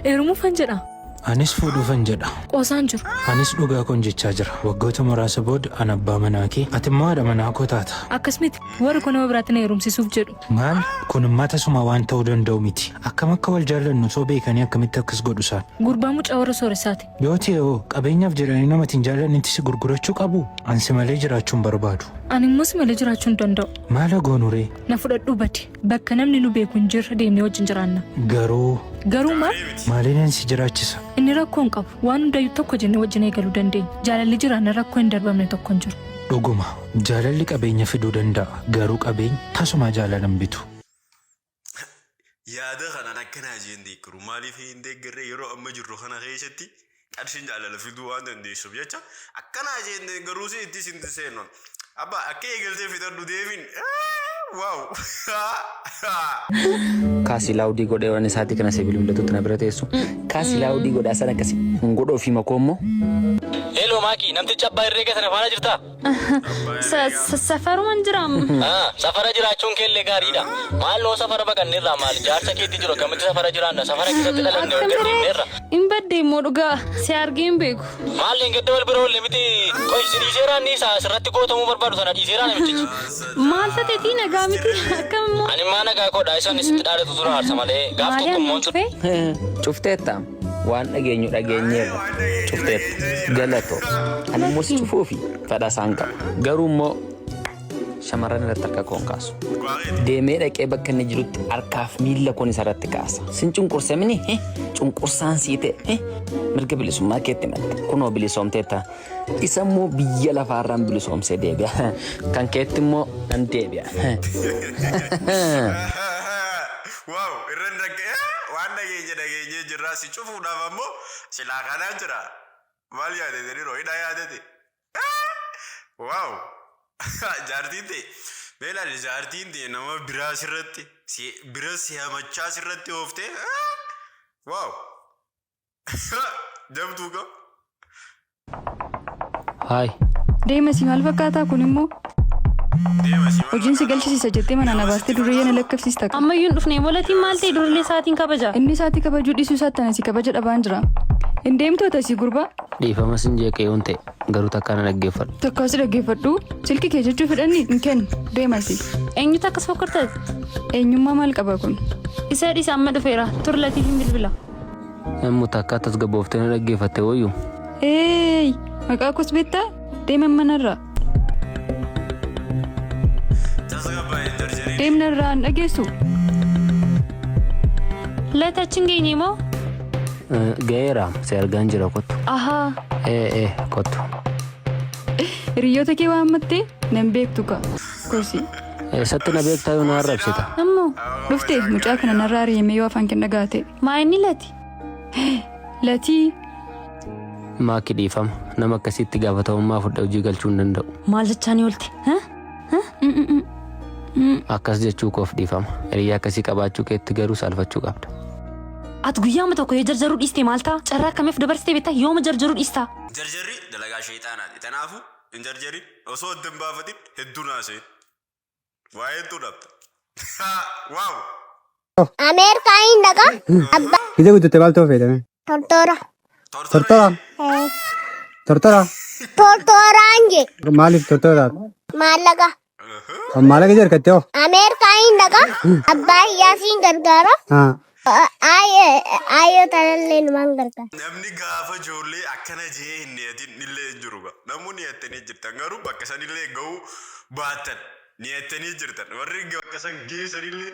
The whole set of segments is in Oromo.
Heerumuufan jedha. Anis fuudhuufan jedha. Qoosaan jiru. Anis dhugaa koon jechaa jira. Waggoota muraasa booda an abbaa manaa kee ati immoo haadha manaa koo taata. Akkas miti. Warri koo nama biraatti na heerumsiisuuf jedhu. Maal? Kun immaa tasuma waan ta'uu danda'u miti. Akkam akka wal jaallannu osoo beekanii akkamitti akkas godhu isaan? Gurbaa mucaa warra sooressaati. Yoo ta'e hoo qabeenyaaf jedhanii namatti hin jaallannetti si gurgurachuu qabu? An si malee jiraachuu hin barbaadu. Ani immoo si malee jiraachuu hin danda'u. Maala goonuree? Na fudhadhuu badi. Bakka namni nu beeku hin jirre deemnee wajjin jiraanna. Garuu Garuu maal? maaliin si jiraachisa? Inni rakkoo hin qabu. Waan hundayyuu tokko jennee wajjin eegaluu dandeenya. Jaalalli jiraanna rakkoo hin darbamne tokko hin jiru. Dhuguma jaalalli qabeenya fiduu danda'a garuu qabeenyi tasumaa jaalala hin bitu. Yaada kanaan akka naa jeen deeggaru maaliif hin deeggarre yeroo amma jirru kana keessatti qarshiin jaalala fiduu waan dandeessuuf jecha akkanaa jenne garuu si itti isin seenuun abba akka eegaltee fixadhu deemin waaw kaasi laawudii godhee waan isaati kana sibiil hundatutti na bira teessu kaasi laawudii godhaa sana akkasi hin godhoo fi makoo immoo Hello Maaki, namticha abbaa irreega sana faana jirtaa? Sa- sa- Safaruman jiraam. Ah, safara jiraachuun kee illee gaariidha. Maaloo safara baqanne irraa maal jaarsa keetti jiru akkamitti safara jiraanna safara keessatti dhalanne Akkam gadhiifne siree irra. hin badde immoo dhugaa si argee hin beeku. Maal hin gadda wal bira oolle miti qoy si dhiiseeraan ni isaa asirratti gootamuu barbaadu sana dhiiseeraan namichichi. Maal tateetii nagaa miti akkam immoo. Ani maa nagaa koodha isaan isitti dhaadatu tura haarsa malee gaaf Maaliyaa tokko immoo hin cuftee? Cufteetta. waan dhageenyu dhageenyeerra cufteetta galato ani immoo si cufuu fi fedha isaan qaba garuu immoo shamarran irratti harka koon kaasu deemee dhaqee bakka inni jirutti harkaaf miila koon isarratti kaasa sin cunqursamini hi cunqursaan sii ta'e hi mirga bilisummaa keetti malte kunoo bilisoomteetta isa immoo biyya lafaarraan bilisoomsee deebi'a kan keetti immoo nan deebi'a. Wow irra hin dhagge eh, waan dhageenye dhageenyee jirraa si cufuudhaaf ammoo silaa kanaa jira maal yaadete dhiroo hidha yaadete eh, wow jaartiin tee mee laali jaartiin tee nama biraa sirratti si bira si hamachaa sirratti ooftee eh, wow Jabduu koo. Haay. Deema si maal fakkaataa kun immoo Deema si maal hojiin si fakkaataa? galchisiisa jettee manaa na baastee durriyyee na lakkifsiista. Ammayyuu hin dhufne molatiin maal ta'e durillee isaatiin kabaja. Inni isaatti kabajuu dhiisuu isaatti ana si kabaja dhabaan jira. Hin deemtu ati asii gurbaa. Dhiifama sin jeeqee yoon ta'e garuu takkaa na dhaggeeffadhu. Takkaa si dhaggeeffadhu silki kee jechuu fedhanni hin kennu deema si. Eenyutu akkas fokkortati? Eenyummaa maal qaba kun? Isa dhiisa amma dhufeera turlatii hin bilbila. Nammu takka tasgabooftee na dhaggeeffatte wayyu. Eeyyy! Maqaa koos beektaa? Deeman manarraa. Deemna irraa hin dhageessu. Lata achi hin geenye moo? Ga'eera si argaan jira kottu. Ahaa! Ee ee kottu. Hiriyoota kee waammattee nan beektu kaa. Kosii. Eessatti na beektaa yoo na arrabsita? Ammoo dhufte mucaa kana narraa ari'amee yoo afaan kee dhagaate. Maa inni lati? Latii. Maaki dhiifama. Nama akkasiitti gaafatamummaa fudhee hojii galchuu hin danda'u. Maal jechaa ni oolte? Ha? Akkas jechuu koof dhiifama. Hiriyaa akkasii qabaachuu keetti garuu saalfachuu qabda. Ati guyyaama tokko yoo jarjaruu dhiiste maal ta'a? Carraa akkamiif dabarsitee beektaa? Yooma jarjaruu dhiistaa? Jarjarri dalagaa sheexaanaati. Tanaafuu Hin jarjarin osoo adda hin baafatin hedduu naasee waa'een tu dhabda. Waaw! Ameerikaa hin dhaqa. Abba Ija guututte maal ta'uu feetame? tortoora. Tortora. Eh, Tortora. Tortooraan je. Maaliif tortora taata? Maallaqa. Kan maallaqa ija harkattee hoo? Ameerikaa hin dhaqa. Abbaa iyyaa siin gargaara. Haa. Aayoo tanallee numaan gargaara. Namni gaafa ijoollee akkana jee hin niyatin illee hin jiru ga. Namuu niyattanii jirtan garuu bakka sanillee ga'uu baattan niyattanii jirtan warri bakka san geessanillee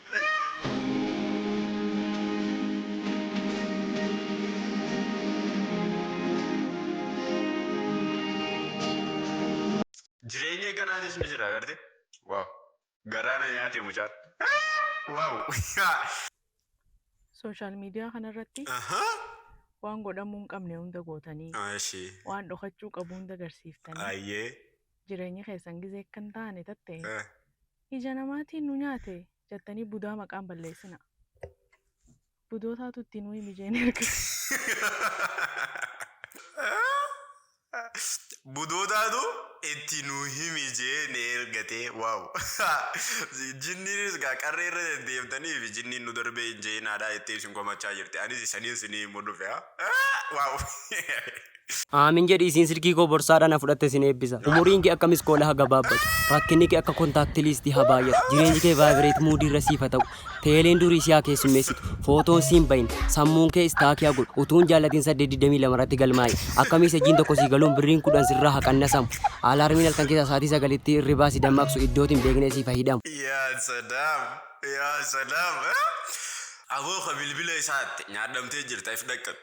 Jireenyi akkanaatis ni jira garte. Waaw. Garaa na nyaate mucaan. Waaw. Social media kana irratti waan godhamuu hin qabne hunda gootanii, waan dhokachuu qabu hunda garsiiftanii, jireenyi keessan gizee akka hin taane tatte Ija namaatii nu nyaate jattanii budaa maqaan balleessina. Budootaatu itti nuyi mijeene ergate. Budootaatu itti nu himijeene ergate. Wow. Jinniinis gaa qarree irra deddeemtaniif jinniin nu darbee hin je'inaadha jettee isin komachaa jirti. Anis isaniin sinii himuu dhufe. Wow. Aamiin jedhi isiin silkii koo borsaadha na fudhatte sin eebbisa umuriin kee akka miskoola ha gabaabbatu rakkinni kee akka contact list ha baay'atu jireenyi kee vibrate mood irra siif ha ta'u teeleen durii si ha keessummeessitu footoon si hin bahin sammuun kee stack ha godhu utuu hin jaallatin 8:22 irratti galmaa'i akka miisejiin tokko sii galuun birriin 10 sirraa ha qannasamu alarmiin halkan keessaa saatii 9tti hirribaa si dammaqsu iddooti hin beekne siif ha hidhamu. Yaa salaam yaa salaam. Aboo ka bilbila isaatti nyaadhamtee jirta if dhaqqabi.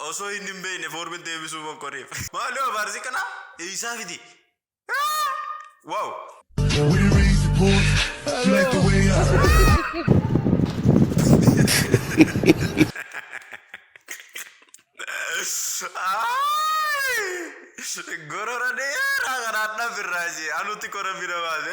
Osoo inni hin beekne foormi deebisuu mokkoreef. Maaloo abaarsi kana eessaa fide? Wow! Would you raise the point? She like the way I Gorora dheeraa kanaan dhabirraa ishee anutti kora bira baase.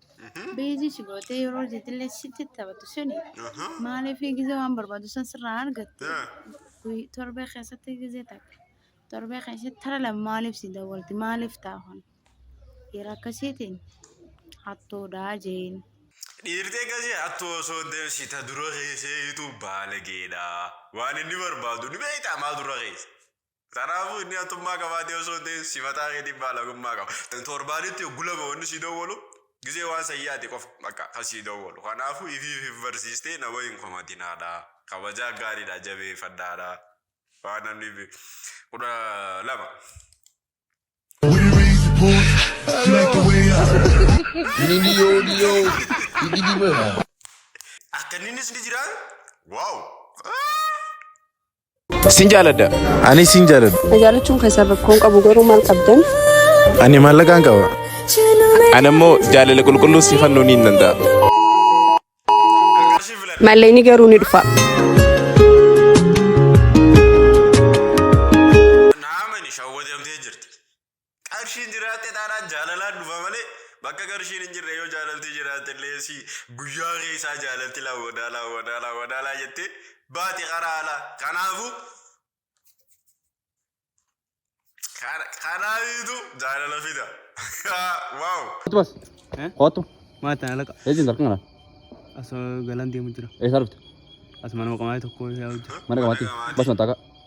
Beezii si gootee yeroo jetillee sitti taphatu suni maaliif gizee waan barbaadu san sirraa argatte guyy- torbee keessatti gizee takka torbee keessatti tara lama maaliif si dawwalti maaliif taahon dhiira akkasiitiin hattuudhaa jeen. Dhiirtee gasee attu osoo hin ta'in sita dura keessee hitu baalageedha. Waan inni barbaadu ni beektaa maa dura keessa. Kanaafuu inni haxxummaa qabaatee osoo hin ta'in si mataa keetiin baalagummaa qaba. Torbaanitti oggu lama wanni si dowwalu gizee waan san yaade qofa bakka kan si dowwalu. Kanaafuu ifiif if barsiistee nama hin komatinaadha. Kabajaa gaariidha jabeeffadhaadha. Waan namni bi- kudha lama. When you raise the boy, she like the way I. Nini yo yo, igi di mana? Akka inninis ni jiraan? Waaw! Sin jaaladha. Ani sin jaaladha. Na jaalachuun keessan rakkoon qabu garuu maal qabdan? Ani maallaqaan qaba. Ani immoo jaalala qulqulluu si fannoo ni danda'a. Mallayni garuu ni dhufa. Qarshiin jiraatte taanaan jaalalaan dhufa malee bakka qarshiin hin jirre yoo jaalalti jiraatte illee si guyyaa keessaa jaalalti laa wadaalaa wadaalaa wadaalaa jettee baati karaa alaa. Kanaafuu kanaafiitu jaalala fida. Waaw. Kottu bas. Eh? Kottu. Maal ta'an alaqa? Eejiin darkan kana. Asoo galaan deemu jira. Eessaa dhufte? Asuma nama qamaa'ee tokko yaa hojjetu. Mana qamaatti. Bas mataa kaa.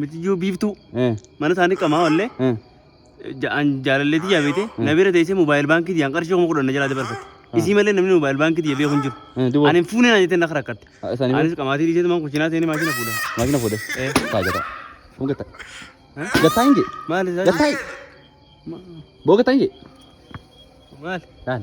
Mitiyyuu biiftuu Eh. mana isaanii qamaa wallee Eh. ja'an jaalalleetii jaabeete na bira teessee moobaayil baankii diyyaan qarshii kuma kudhan na jalaa dabarfatte. Isii malee namni moobaayil baankii diyya beeku hin jiru. Eh, duwwaa. Ani hin fuune naan jettee na rakkatte. Ah, isaanii Anis qamaatii dhiisee tumaan kuchinaa seenee maashina fuudha. Maashina fuudhe. Eh. Taa gata. Kun gata. Gata hin jee. Maali isaa? Gata. Boo gata hin jee. Maali? Daan.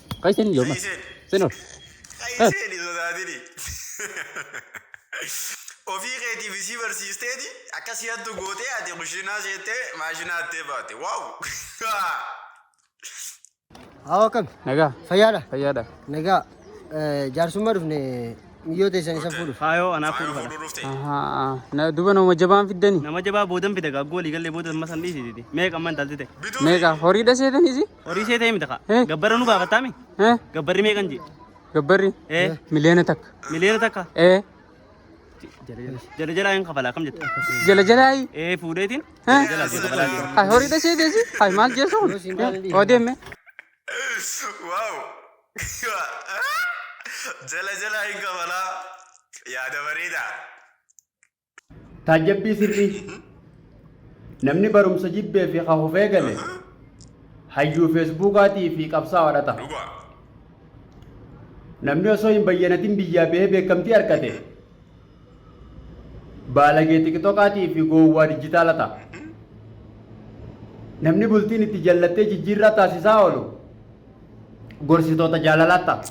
Kai seni yo mas. Senor. Kai seni sodaatini. Ofii keetiif isii barsiisteeti akka si hattu gootee ati kushinaa seettee maashina hattee baate. Waaw! Hawa kam? Naga. Fayyaadha? Fayyaadha. Nagaa eh, jaarsummaa dhufne miyyoo teessan isa fuudhuuf. Faayoo anaa Faayoo fuudhu fuudhuu kana. dhufte. Aha. Na duba nama jabaan fiddani. Nama jabaa boodan fida gaggoo walii gallee booda amma san dhiisiti. Meeqa amma intalti ta'e? Bituu Meeqa horii dhaseetani si? Horii see ta'e miti kaa. Eh. Gabbarra nu baafattaa mi? Eh? Gabbarri meeqan jee? Gabbarri? Eh. Miliyoona takka. Miliyoona takka? Eh? Jala jalaa hin kafalaa kam jetta? Jala jalaayi? Eh fuudheetiin? Eh? Jala jalaa hin kafalaa jee. Hay horii dhasee deesi? Hay maal jeesu kun? Eh? Odeemme? Wow! Jala jala hin kabalaa. Yaada bareedaa. Taajjabbii sirrii Namni barumsa jibbee fi kan hufee gale hayyuu feesbuukaatii fi qabsaa'aadha ta'a. Dhugaa. Namni osoo hin bayyanatin biyyaa bahee beekamtii argate baalagee tikitokaatii fi gowwaa dijitaala ta'a. Namni bultiin itti jallattee jijjiirraa taasisaa oolu gorsitoota jaalalaa ta'a.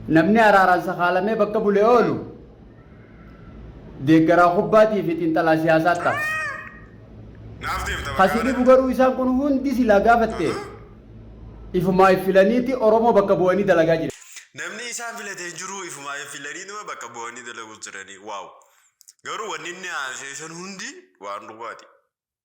Namni araaraan sakaalamee bakka bulee oolu deeggaraa kubbaatii fi xiinxalaa siyaasaa ta'a. Naaf deemta bakka Kasi dhibu garuu isaan kun hundi silaa gaafatte ifumaa if filaniiti Oromoo bakka bu'anii dalagaa jiran. Namni isaan filate hin jiru ifumaa if filaniituma bakka bu'anii dalaguu jiranii. Waaw. Garuu wanni inni haasa'e san hundi waan dhugaati.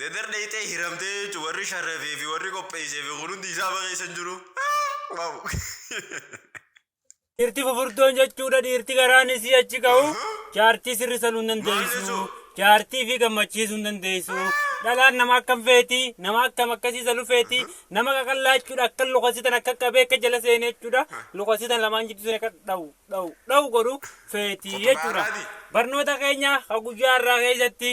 Dadar dhayxee hiramtee jechuun warri sharrafee fi warri qopheessee fi kun hundi isaa bakeessa hin jiru. Waaw. Dhiirti fufurdoon jechuudha dhiirti garaan isii achi ka'u jaartii sirri saluu hin dandeessu jaartii fi gammachiisuu hin dandeessu dhalaan nama akkam feeti nama akkam akkasii salu feeti nama qaqallaa jechuudha akka lukasitan akka qabee akka jala seenee jechuudha lukasitan lamaan jidduu seenee akka dhawu dhawu dhawu godhu feeti jechuudha barnoota keenya ka guyyaa irraa keessatti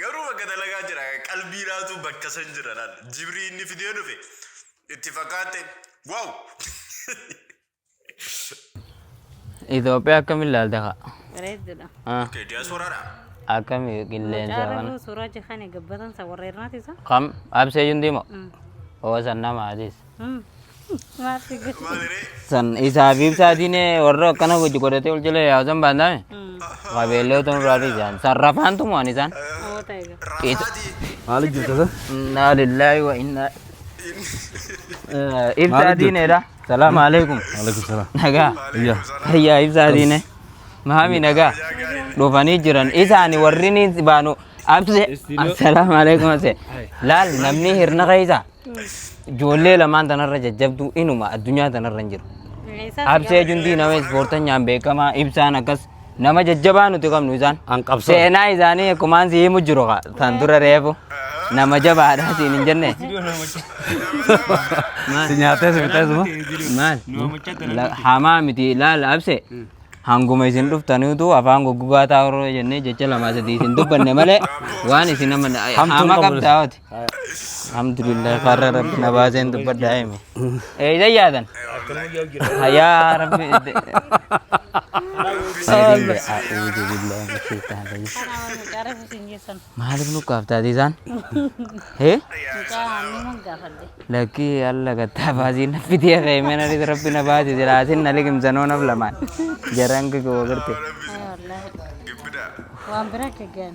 Garuu bakka dalagaa jira qalbii laatu bakka san jira laal jibrii inni fidee dhufe itti fakkaate waaw. Itoophiyaa akkamiin ilaalta kaa? Bareeddudha. Ah, Okay diasporaadha. Akkami qilleensa Mucaa kana? Rabuu suuraa jikaani gabbatan isa warra irraati isa. Kam? Absee Yundiimo? Oo san nama Adiis. San isaa fi ibsaatiin warra akkana hojii godhatee ol jala yaasan baandame. Qabeellee otoo nurraa dhiisaan. San rafaan tumu'an isaan. Maali jirta sa? Innaa lillaahi wa innaa. Ibsaa diineedha. Salaam alaikum. Alaikum salaam. Nagaa. Iyya. Ayyaa ibsaa diine. Maami nagaa. Dhufanii jiran. Isaani warri ni baanu. Abse. Assalaamu alaikum abse. Laal namni hirna keessa. Ijoollee lamaan tanarra jajjabduu inuma addunyaa tanarra hin jiru. Absee Jundii nama ispoortanyaan beekamaa ibsaan akkas nama jajjabaa nuti qabnu isaan. An qabsoo. Seenaa isaanii akkumaan si himu jiru kaa tan dura reefu nama jabaadhaa siin hin jenne. Si nyaatee si fixee suma. Maal? La- Hamaa miti laal abse. Hanguma isin dhuftaniitu afaan goggogaa taa'urra jennee jecha lama sadii isin dubbanne malee waan isin amma Hamtuun hama qabu qabda hoti. Alhamdulillah farra rabbi na baaseen dubbadha hime. Eeysa yaadan. Yaa rabbi. Nabiyyee a'uudu billahi min shaytaan rajiim. Maaliif nu qaaftaati isaan? Hee? Lakkii alla gattaa baasii na fidee ka'e mana dhisa rabbi na baasi jiraatin na liqimsanoo naf lamaan. Jaraan kikoo garte. Waan biraa keggan.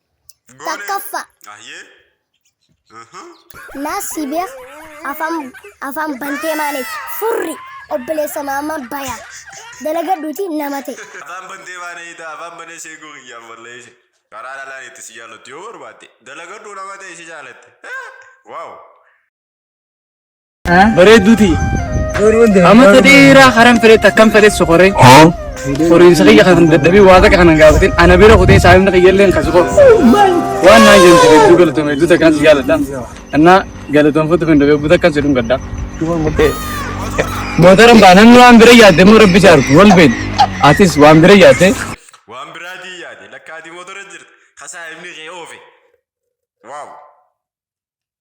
Takkaffa. Ayyee. Aha. Naa si beek afaan afaan bantee maaliif furri obboleessa maama baya dalagadhuuti nama ta'e. Afaan bantee baana hiita afaan banee sheekuu kiyyaaf wallee ishee. Karaa dhalaan itti si jaallattu yoo barbaadde dalagadhuu nama ta'e si jaalatte. Waaw. Bareedduu tiyya. Amma tadheeraa karan fedhetti akkam fedhe sokoree. Horiinsa kiyya kan dadhabee waa takka kan hin gaafatin ana bira kutee saayimna kiyya illee kan soqo. Waan naan jedhamte hedduu galatoomi hedduu takkaan si jaaladha. Annaa galatoomfatu kan dhabeebbu takkaan si dhungadha. Mootaran baanan waan bira yaadde immoo rabbi si argu wal beeku. Atis waan bira yaadde Waan biraatii yaade lakkaati motora jirti. Kasaa himni kee oofe. Waaw.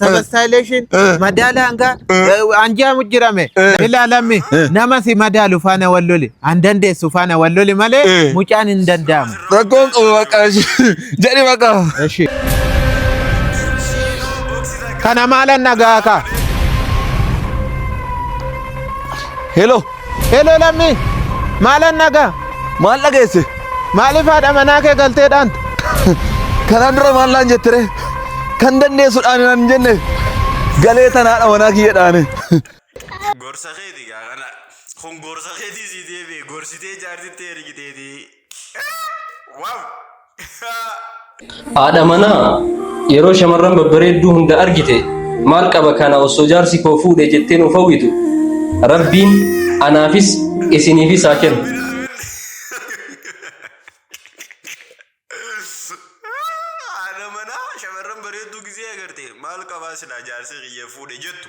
sabastaayileeshin madaala hangaa anjaamu jirame ilaalammi nama si madaalu faana wal loli an dandeessu faana wal loli malee mucaan hin danda'amu. Rakkoon qabu maqaa jedhi maqaa. Eshi. Kana maalan nagaa kaa. Hello. Heloo lammii! Maalan nagaa? Maal dhageesse? Maaliif haadha manaa kee galtee dhaanta? Kanaan dura maal naan jette ree? Kan dandeessu dhaani naan hin jenne. Galee tan haadha manaa kiyya dhaane. Gorsa keeti gaa kana. Kun gorsa keetii sii deebi'e. Gorsitee jaartitti ergiteetii. Haadha manaa yeroo shamarran babbareedduu hunda argite maal qaba kana osoo jaarsi koo fuudhe jettee nuuf hawwitu rabbiin anaafis isiniifis haa kennu. Haadha manaa shamarran bareedduu gisee agarte maal qabaa silaa jaarsi kiyya fuudhe jettu.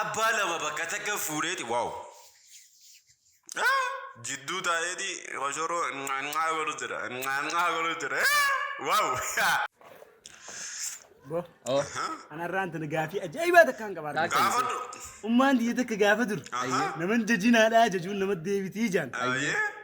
abbaa lama bakka takka fuudheeti waaw jidduu taa'eeti koshoroo nyaanyaa godhu jira nyaanyaa godhu jira waaw Bo. Oo. Anarraan tana gaafii ajaa'ibaa takkaan qabaa. Taak- gaafadhu Ummaan tiyya takka gaafa dur. Aha. Naman jajinaadhaa jajuun nama deebitii jaan. Ayyee.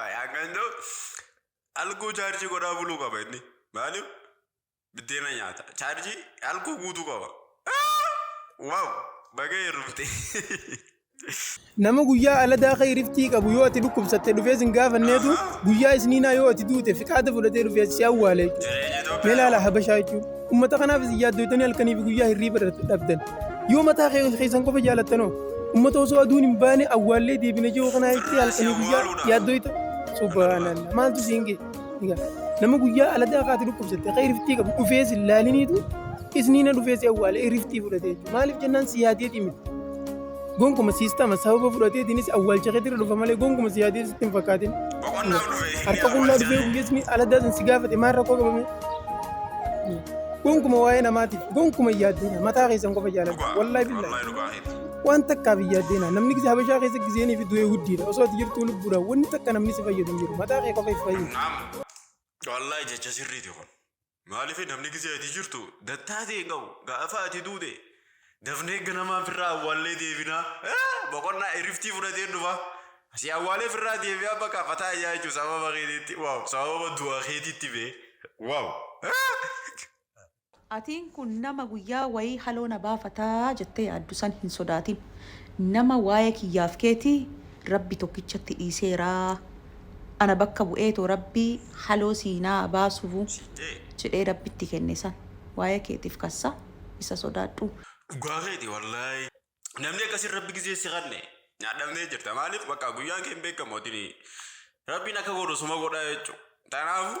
Ay, Akka hin ta'u algoo chaarjii godhaa buluu qaba inni. Maaliif? Biddeena nyaata. Chaarjii algoo guutuu qaba. Waaw! Baga heerumte. Nama guyyaa aladaa kee riftii qabu yoo ati dhukkubsatte dhufee sin gaafanneetu guyyaa isniinaa yoo ati duute fiqaada fudhatee dhufee si awwaale jechuudha. Mee laala habashaa jechuudha. Ummata kanaaf isin yaaddoytanii halkanii fi guyyaa hirriiba dhabdan. Yoo mataa keessan qofa jaalattanoo ummata osoo aduun hin baane awwaallee deebina jiru kanaa itti halkanii guyyaa yaaddoyta. Subhaanallah maaltu siin ga'e? Nama guyyaa aladaa kaate dhukkubsatte akka iriftii qabu dhufee sin laaliniitu isniina dhufee si awwaale iriftii fudhate jechuudha. Maaliif jennaan si yaadeeti miti. Gonkuma siistama sababa fudhateetiinis awwaalcha keetirra dhufa malee gonkuma si yaadee sitti hin fakkaatin. Harka qullaa dhufee guyyeesni aladaa sun si gaafate maal rakkoo qabame? Gonkuma waa'ee namaatiif gonkuma hin yaaddeena mataa keessan qofa jaalladha. Wallaahi billaahi. Waan takkaaf hin yaaddeena namni gisa habashaa keessa giseenii fi du'ee huddiidha osoo ati jirtuu lubbuudha wanni takka namni si fayyadu hin jiru mataa kee qofa if fayyadu. Wallahi jecha sirriiti kun. Maaliif namni gisee ati jirtu dattaa ta'e hin qabu. Gaafa ati duute dafnee ganamaan firraa awwaallee deebinaa. Boqonnaa iriftii fudhatee dhufa. Si awwaalee firraa deebi'aa bakka fataa ijaa jechuun sababa keetiitti. Waaw sababa du'a keetiitti bee. Waaw. Atiin kun nama guyyaa wayii haloo na baafata jettee yaaddu san hin sodaatin. Nama waayee kiyyaaf keetii Rabbi tokkichatti dhiiseera. Ana bakka bu'eetoo rabbii haloo sii naa baasuvu jedhee rabbi itti kenne san waaya keetif kassa isa sodaadhu. Dhugaa keeti wallaahi namni akkasii rabbi gizee si kanne nyadhamtee jirta maalif bakka guyyaan kee hin beekamu atini rabbiin akka godhu suma godha jechu tanaafu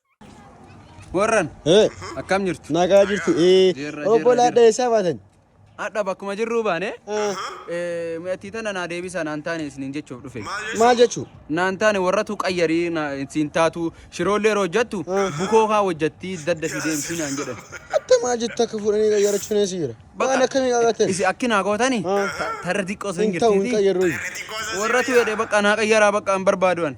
Warran Hee, akkam jirtu? nagaa jirtu. Ee, Jirra, obbo jirra, Laadha eessaa baatan? Hadha bakkuma jirruu baane Ee, mi'attii tana naa deebisa naan taane isiniin jechuuf dhufe. Maal jechuu? Naan taane warratu qayyarii na- siin taatu shiroollee yeroo hojjattu bukoo kaa hojjattii dadda fi deemsii naan jedhan. Atta maal jettu akka fuudhanii qayyarachuun eessa jira? Waan akkamii qaqqateen? Isi akki naa gootani Haa. tarra xiqqoo sun Hin ta'u hin jirtiiti. qayyarruu. Warratu jedhe bakka naa qayyaraa bakka hin barbaaduan.